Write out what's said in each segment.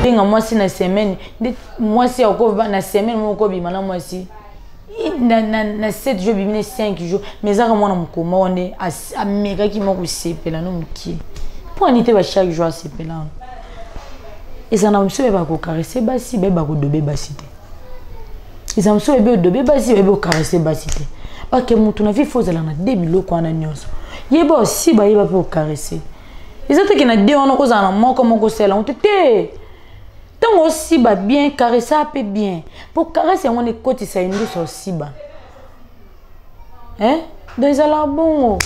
benga mwasi na semaine nde mwasi akoba na semaine moko kobima na mwasi na, na, na 7 jours bimi na 5 jours mais ezaka mwana mokoma wana amekaki mwa kosepela no mokie mpo ani te ba chaque jour asepelana ezala na biso bayeba kokarese basi bayeba kodobe basi te eza mosusu oyebi odobe basi oyebi okarase basi te bake motu na vie fo ozala na de biloko wana nyonso yeba osi bayeba mpe okarase eza teke na de wana okozala na moko moko osala yango te te ntango osiba bien karesa mpe bien mpo karese yango wana ekotisa indusa osiba eh? donc ezalaka bongo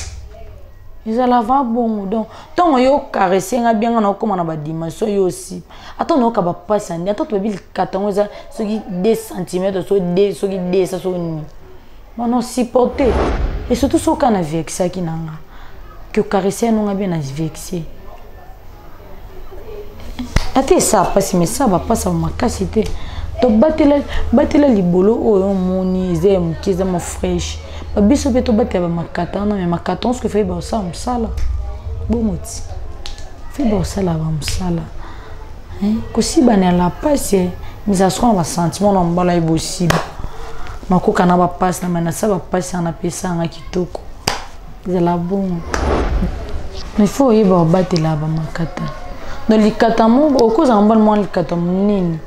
ezalaka bongo donc ntango yo okarese nga bianga na okóma na badimension yo osi ata nayoka bapasi ya nde ata tobebi likata yango eza soki 2 centimetre soki 2 soki 2 esa soki nini bana osupporte e surtout soki oka na vexaki na nga ke okarese yanonga bien na vexe ata esa mpasi ma esa bapasa makasi te to batela batela libolo oyo oh, omoni eza ya moke eza ma fraîche babiso mpe tobatela bamakata wana me makata onso efai baosala mosala bongo ti fai baosala bamosala kosibana ya la pasi eh. mizala soko na basentiment na mobala ye bosiba makoka na bapasi na manasa bapasi wana mpe esanga kitoko zala bongo il faut oyeba obatela bamakata no likata moko okozala mbana mwana likata monene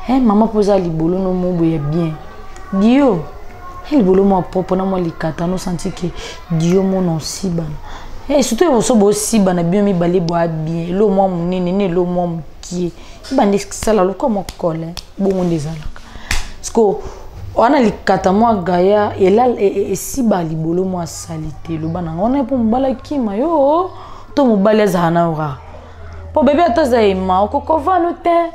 e mama mpo oza libolo no mobo ya bien dio e libolo mwa propre na mwa likata nosanti ke dio mona osibana e surtout eboso bosibana bino mibale bwa bien elo mwa monene na elo mwa mokie ebanda esala lokwa mwa kole bongo nde ezalaka siko wana likata mwa gaya e, e, esiba libolo mwa salite loba nanga wana mpo mobali akima yo to mobali azala na ora mpo bebe ata aza ema okokovano te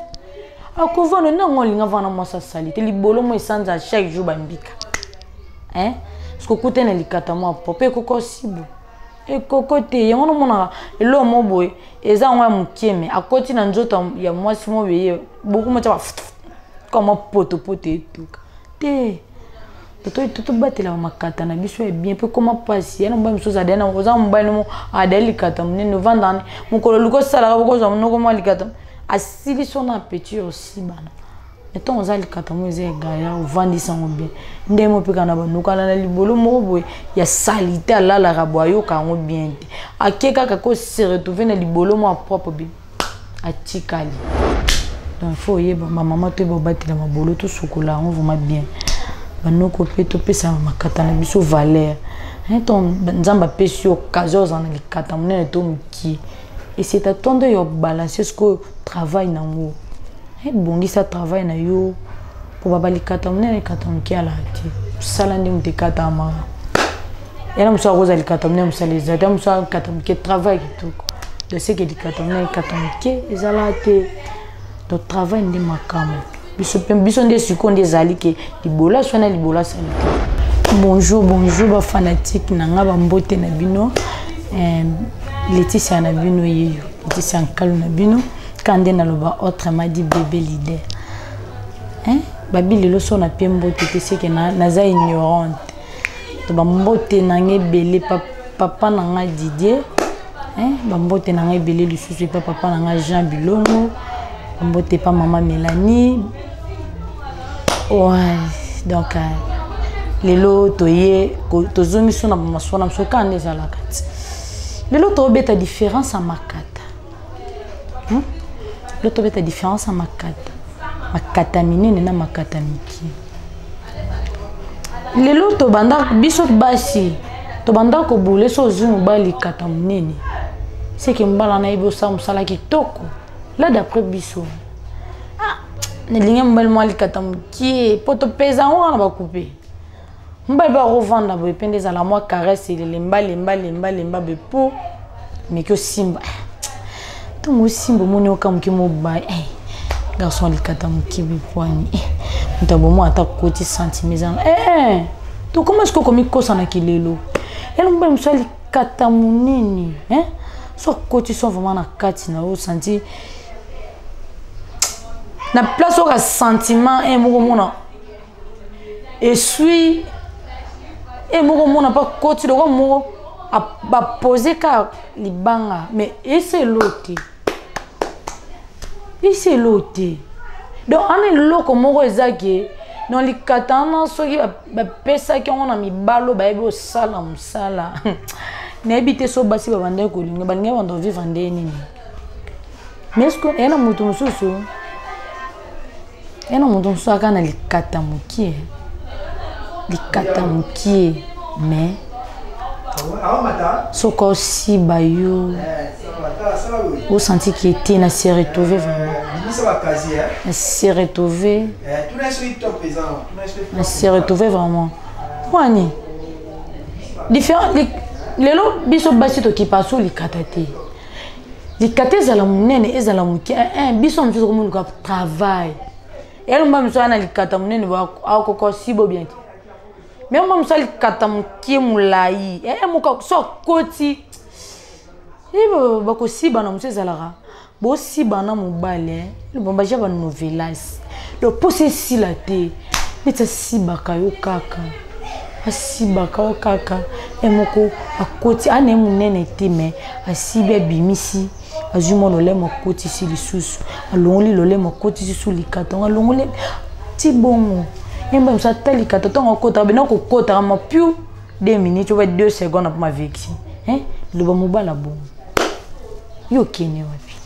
akovano nango olinga vana mwasi asali te libolo mwa esanza chaque jour bambika eh? sokokuta na likata mwa po mpe ekokosibo ekoko te yango nomonaka eloo mo boye eza yango ya mokie me akoti na nzoto ya mwasi mo beye boku motya ba kama potopoto etuka te totobatela bamakata na biso ya bien mpe koma mpasi ya na mobali mosusu adali nango oza mobali nomo adali likata monene ovandani mokolo luka osalaka bokozwa monoko mwa likata asilisi ona appetit osi bana ntango oza likatamo eza egaya ovandisa yango bien ndenge mopeka na banokana na libolo moko boye ya salite alalaka boye ayoka yango bien te ake kaka ko se retrouve na libolo mwa propre bi atikali donc fo oyeba bamama toyeba obatela mabolo tosukola yango vraiment bien banoko mpe topesa makata na biso valeur ntango nzambe apesi yo occasion ozala na likata monene to ki eseta to nde yo balanse sikoyo travail nango ebongisa eh, travail na yo mpo baba likata monene likata moke alaa te mosala nde moto ekatamaka yana mosala kozala likata monene mosala eza te mosala likata moke travail kitoko doseke likata monene likata moke ezalaa te to travail nde makambo biso mpe biso nde sikoyo nde ezali ke libola swana libola sani bonjour bonjour bafanatike na ngai bambote na bino eh, leticia na bino yeyo leticia nkalo na bino ka nde naloba autrement dit bebe leader eh? babi lelo so na mpe mbote te seke naza ignorante to bambote na ngai ebele papa papa na ngai didier eh, bambote na ngai ebele lisusu epa papa na ngai jean bilongo bambote epa mama mélanie ouais, donc euh, lelo toye tozongi so na bamaswana biso kaka nde ezalaka ti lelo tobeta différence ya makata hmm? lo tobeta différence ya makata makata minene na makata mike lelo tobanda biso basi tobanda kobule so ozwi mobali likata monene seke mobali wana yebi osala mosala kitoko la d'après biso ah, nalingi mobali mwa likata mokie mpo topeza yango wana bakupe mobali mpe akovanda boye mpe nde ezala mwa caresse elemba lemba lemba lemba boye mpo meki osimba ntango osimba omoni oka moke mobali eh, garçon alikata moke bipwani eh, moto abomo ata koti sentime ezanga eh, tokoma sikoyo komikosa na kilelo yalo mobali mosu alikata monene so akoti so vraiment na kati na yo santi na place oka sentiment moko mona esui e moko mona mpa koti lokola moko bapose ka libanga mais esi elo te esi elo te donc ana eloko moko eza ke na likata wana soki bapesaki yango na mibalo bayebi osala mosala nayebi te so basi babandaki kolinga balingaki banda ovivre nde nini mais eske eye na moto mosusu yana moto mosusu aka na likata mokie likata mokie mais soki osiba yo osanti ke te na se retrouve vraiment na se retrouve na se retrouve vraiment wani différent lelo biso basi tokipa so likata te likata ezala monene ezala moke eh, eh, biso wana biso komonuka travail elomba miso wana likata monene akoko sibo bien te me omba miso likata moke molai eh, moka so akoti bakosibana mosu ezalaka bosibana mobali lubumbashi ya banovelas donc mposa esila te neti asibaka yo kaka asibaka yo kaka ye moko akoti ana ye monene te me asibi abimisi azwi mwa lolemo akotisi lisusu alongoli lolemo akotisi su likata ngo alongoli ti bongo yemba mosu ata likata ntango akotaka bena kokotaka ma piu 2 minutes oba 2 seconde mpo mavexi loba mobala bongo yo okende wapi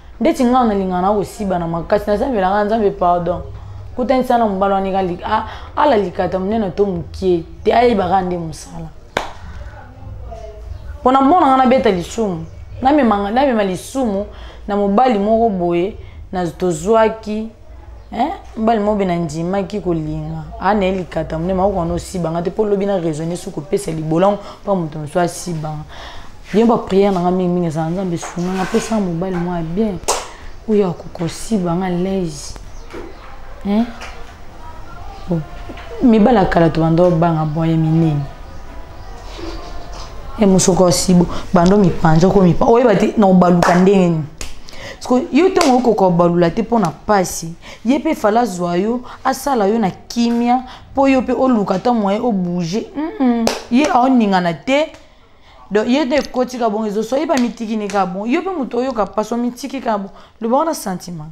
ndeti ngai nalingaka na kosiba na makasi nasambelaka nzambe pardon kutanisa na mobali wana eka ah, ala likata monene to mokie te ayebaka nde mosala mpo na mona ngai nabeta lisumu namema lisumu na mobali moko boye tozwaki Eh, mbali moko bena ndimaki kolinga ana ye likata mone makoki wana osibanga te mpo lobi na raisonne soki kopesa libolango mpo moto mosusu asibanga bien bapriere nanga mingi mingi ezala nzambe esunganga apesa mobali mwa ya bien oyo akoka osibanga laise eh? mibali ya kala tobanda obanga bwaye minene eh, mosoka osibo banda omipanza okomipa oyeba te na obaluka ndenge nini sikoyo yo ntango okoki kobalula te mpo na mpasi ye mpe fala azwa yo asala yo na kimia mpo yo mpe oluka ata moye obouge mm -mm. ye aoningana te donc ye nde ekoti ka bongo ezoso ye bamitiki ne ka bongo yo mpe moto oyoka mpasi omitiki ka bongo loba wana sentiment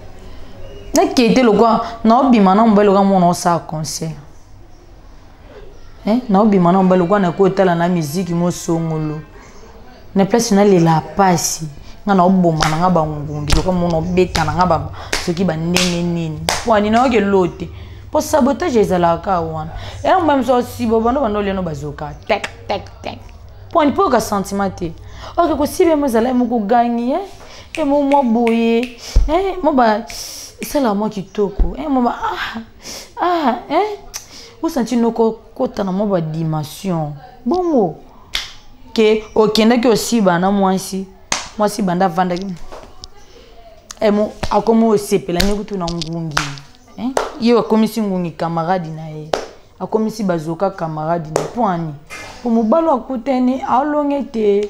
nakei te lokwa naobima na mobali lokwa mona osala concert eh, naobima na mobali lokwa nakoki otala na miziki mosongolo na place nalela mpasi nga naoboma na nga bangungi lokwa mona obeta na nga soki bandenge nini wani nayoki elo te mpo sabotage ezalaka wana yango mba miso osiba banda banda oliano bazoka tek tek tek mpo ani mpo yoka sentiment te oke kosiba yango ezalaki mokogangi e eh? e mo mwa boye eh, mo ba esala mwa kitoko eh, mo ba ah, ah, eh. osanti noko kota na mwa badimension bongo ke okendaki osiba na mwasi mwasi banda avandaki eh, mo akomi osepela nde kutu na ngungi eh? ye akomisi ngungi kamaradi na ye akomisi bazoka kamaradi na mpo ani mpo mobali akutani alonge te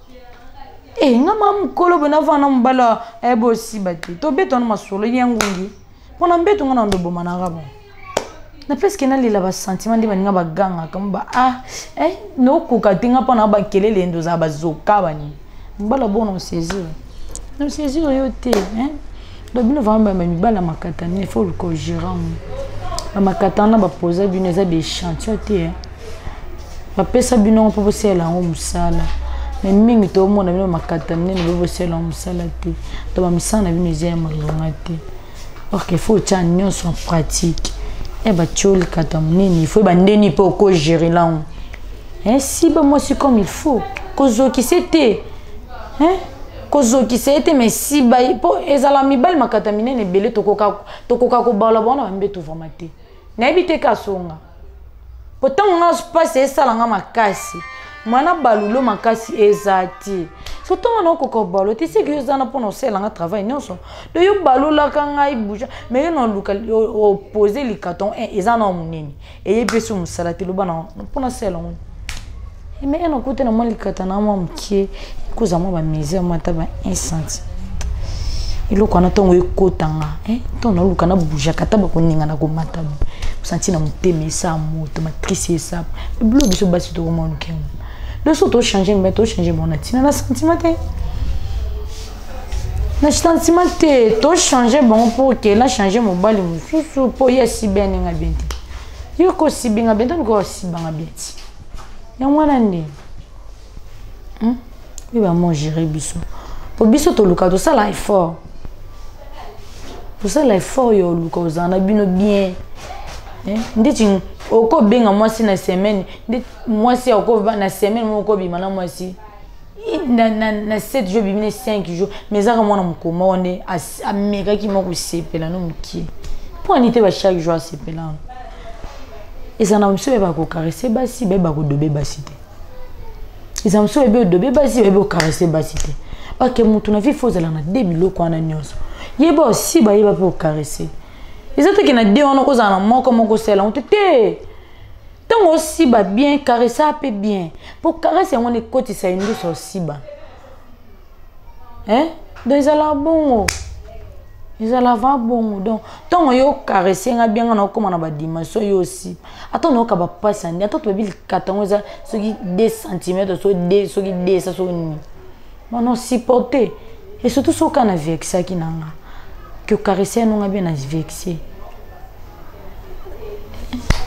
e nga ma mokolo boye navanda na mobali oyo eh, bosiba te tobeta wana masolo ye ngungi mpo na mbeto nga na ndo ebomanaka bon na presque nalela basentiment nde baninga bagangaka mba ah eh, nokoka te nga mpo na bakelele ndo ozala bazoka banini mobali abona osaisir osaisir yo te eh? donc bino vraiment bama mibali ya makatani il faut luka ogérant bamakatana bapoza bino eza baechantio te eh? bapesa bino yango mpo bosalela yango mosala me mingi tomona bino makata minene bo bosalela yango mosala te to bamisala na bino eza ya malonga te orke il faut otya nyonso en pratique e batyo likata monene il faut ebandeni mpe okogere lango si bamwasi comme il faut kozokise te kozokisa ye te mai siba mpo ezala mibali makata minene ebele tokoka kobala bawana bambeto vraimen te nayebi te kasonga mpo ntango nga mpasi esala nga makasi mwana balulo makasi eza te so ntongo naokoka obalo te seki yo zana mpona osala nga travail nyonso to yo balolaka ngai buja mai yo naluka opose likaton eh, eza na monene eyebi esi mosala te loba na mpona sala yango Mais elle a coûté normalement likatana mwa mokie koza mwa bamisère mwa ata ba 1 centime eloko wana ntongo ekotanga ntongo naluka nabujaka ata bakoningana komata santi na motema esa moto matrice esa bilo biso basi tokoma lokengo biso tochange mbe tochange bona ntina na sentiment te na sentiment te tochange bango mpo okela change mobali mosusu mpo ye asibi aninga bien te yo kosibi nga bien te luka osibanga bien ti yango wana nde hmm? oyo bamo gere biso mpo biso toluka tosala effort tosala effort ya oluka ozala na bino bien eh? ndeti okobenga mwasi na semaine nde mwasi akoba na semaine moko okobima na mwasi na, na, na 7 jours bimi ne 5 jours mais ezaka mwana mokolo moko nde amekaki mwa kosepela no mokie mpo ani te ba chaque jour asepelana eza na mosusu bayeba kokarese basi bayeba kodobe basi te eza mosusu bayebi odobe basi bayebi okarese basi te bake motu na vie fo ozala na de biloko wana nyonso yeba osi bayeba mpe okarese eza toke na de wana okozala na moko moko osala yango te te ntango osiba bien caressa mpe bien mpo caresse yango nekotisa ye ndoso osiba eh? donc ezalaka bongo ezala va bongo donc ntango yo caresse nga bianga na okóma na badimension yo osi ata nayoka bapasi ya nde ata tobebi likata yango eza soki 2 centimetre so soki 2 esa soki nini bana osupporte e surtout soki oka na vexaki na nga que caresse yanonga bien na vexe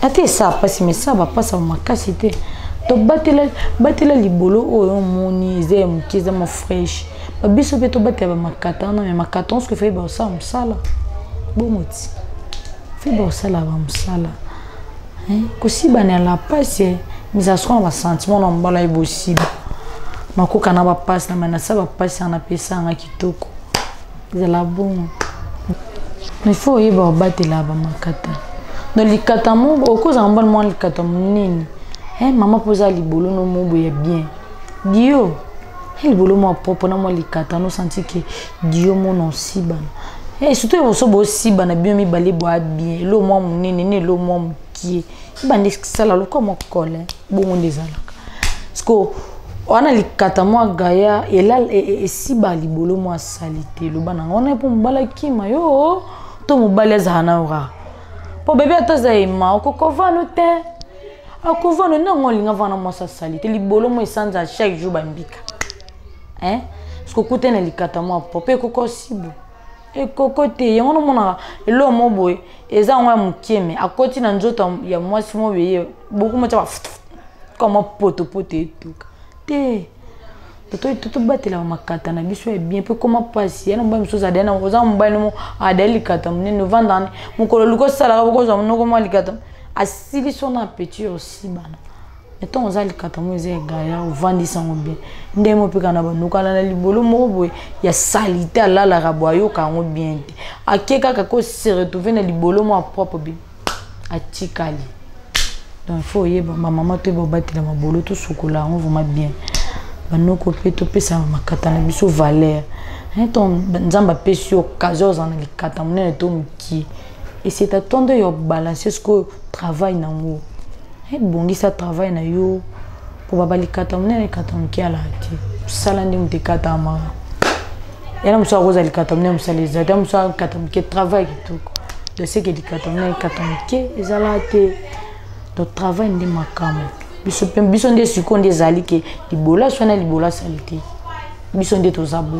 ata esa mpasi ma esa bapasa makasi te to batela batela libolo oyo oh, omoni eza ya moke eza ma fraîche babiso mpe tobatela bamakata wana me makata onso efai baosala mosala bongo ti fai baosala bamosala kosibana ya la pasi eh. mizala soko na basentiment na mobala ye bosiba makoka na bapasi na manasa bapasi wana mpe esanga kitoko zala bongo il faut oyeba obatela bamakata no likata moko okozala mbana mwana likata monene e mama mpo oza libolo no mobo ya bien dio e libolo mwa propre na mwa likata nosanti ke dio mona osibana e surtout eboso bosibana bino mibale bwa bien elo mwa monene na elo mwa mokie ebanda esala lokwa mwa kole bongo nde ezalaka siko wana likata mwa gaya e, e, esiba libolo mwa salite loba nanga wana mpo mobali akima yo to mobali azala na ora mpo bebe ata aza ema okokovano te akovano nango olinga vana mwasi asali te libolo mwa esanza chaque jour bambika eh? sokokuta na likata mwa po mpe ekokosibo ekoko te yango nomonaka eloo mo boye eza yango ya mokie me akoti na nzoto ya mwasi mo beye boku motya ba kama potopoto etuka te totobatela bamakata na biso ya bien mpe koma mpasi ya na mobali mosusu adali nango oza mobali nomo adali likata monene ovandani mokolo luka osalaka bokozwa monoko mwa likata asilisi ona appetit osi bana ntango oza likatamo eza egaya ovandisa yango bien ndenge mopeka na banokana na libolo moko boye ya salite alalaka boye ayoka yango bien te ake kaka ko se retrouve na libolo mwa propre bi atikali donc fo oyeba bamama toyeba obatela mabolo tosukola yango vraiment bien banoko mpe topesa makata na biso valeur ntango nzambe apesi yo occasion ozala na likata monene to ki eseta to nde yo balanse sikoyo travail nango ebongisa eh, travail na yo mpo baba likata monene likata moke alaa te mosala nde moto ekatamaka yana mosala kozala likata monene mosala eza te mosala likata moke travail kitoko donc seke likata monene likata moke ezalaa te donc travail nde makambo biso mpe biso nde sikoyo nde ezali ke libola swana libola sali te biso nde toza bo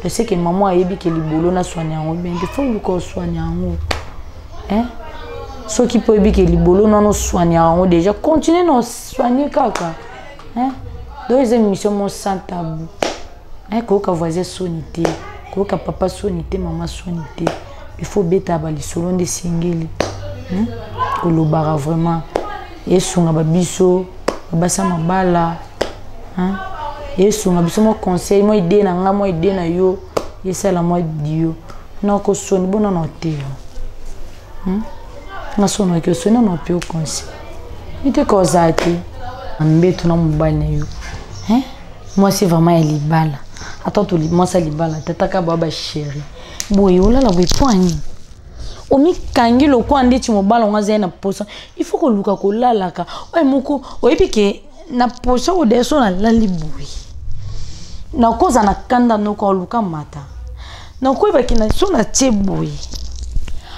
je sais que maman ayebi ke libolo naswani yango bien il faut oluka oswani yango hein? soki mpo oyebi ke libolo nano oswani yango déjà continue na oswani kaka hein? donc eza émission mo sans tabou hein? koyoka voisin soni te koyoka papa soni te mama soni te il faut obeta balisolo nde esengeli hein? kolobaka vraiment esunga babiso babasa mabala hein esunga biso mwa conseil mwa idee na ngai mwa idee na yo esala mwa dio nakosoni bona na oteyo hmm? nasonaki osoni na ope okonsi miteka ozala te mbeto na mobali na yo hein? mwasi vraiment ya libala ata to mwasi ya libala tataka baa basheri boye olala boye mpo anini omikangi lokola ndeti mobala ngo azali na mposa il faut koluka kolalaka oyo moko oyebi ke na poso oyo deso nalali boye nakoza na kanda noko aluka mata nakoyebaki na so natie boye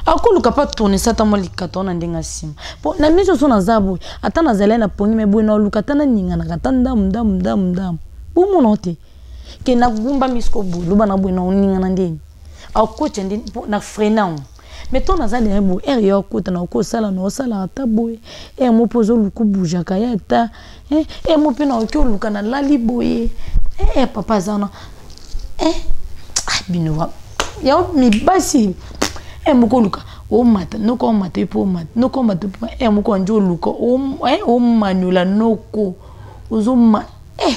akoluka mpe atonisa ata mwa likata wana ndenge asima mpo na miso so naza boye ata nazali na pongi me boye naluka ata naninganaka ata ndamu ndamu ndamu ndamu bomona te ke nagumba misiko boye loba na boye naoningana ndeni akotya ndeni mpo na frenan mais to naza deja boye ere ya okotana okosala na osalaka ata boye ere mo mpe ozoluka obujaka ye ata ere eh, mo mpe naoki oluka nalali boye ee eh, papa aza wana e ah, bino yango mibasi e moko oluka omata noko omata mpe omata noko omata mpe e moko anje oluka omanyola noko ozoma e